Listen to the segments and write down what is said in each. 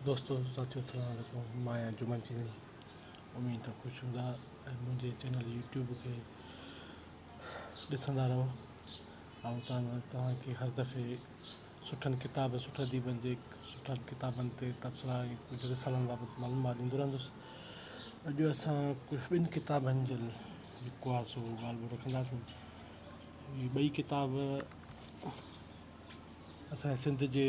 دوستو ساٿيو السلام عليڪم مان آهيان جمن چيني اميد ته خوش هوندا ۽ منهنجي چينل يوٽيوب کي ڏسندا رهو آئون چاهندو آهيان توهان کي هر دفعي سٺن ڪتاب سٺ اديبن جي سٺن ڪتابن تي تبصرا ۽ ڪجهه رسالن بابت معلومات ڏيندو رهندس اڄ اسان ڪجهه ٻن ڪتابن جي جيڪو آهي سو ڳالهه ٻولهه رکنداسين هي ٻئي ڪتاب اسان سنڌ جي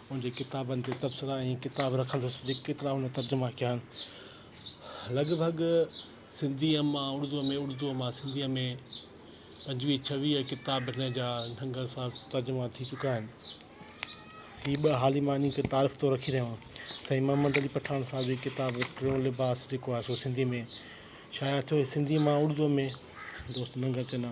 ان جي ڪتابن تي تبصرا ۽ ڪتاب رکندس جيڪي ڪيترا هن ترجما ڪيا آهن لڳ ڀڳ سنڌيء مان اڙدوء ۾ اڙدوء مان سنڌيء ۾ پنجويهه ڇويهه ڪتاب هن جا ننگر صاحب ترجما ٿي چڪا آهن هي ٻه حال ئي مان انهن کي تعارف طور رکي رهيو آهيان سائين محمد علي پٺاڻ صاحب جي ڪتاب ٽيون لباس جيڪو آهي سو سنڌي ۾ شايع ٿيو سنڌيء مان اڙدوء ۾ دوست ننگر چنا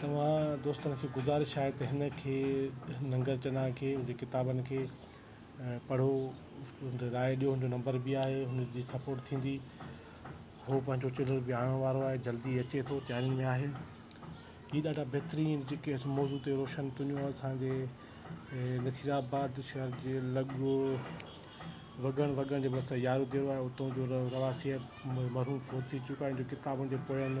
توهان دوستن کي گذارش آهي ته هن کي ننگر چنا کي هن جي ڪتابن کي پڙهو هن تي راء ڏيو هن جو نمبر به آهي هن جي سپورٽ ٿيندي هو پنهنجو چينل به آڻڻ وارو آهي جلدي اچي ٿو تيارين ۾ آهي هي ڏاڍا بهترين جيڪي اسان موضوع تي روشن تونيون اسانجي نصير آباد شهر جي لڳ وڳڻ وڳڻ جي ڀرسان يارو ديرو آهي اتو جو رهواسي آهي مرحوم فوت ٿي چڪو آهي ان جي ڪتابن جي پويان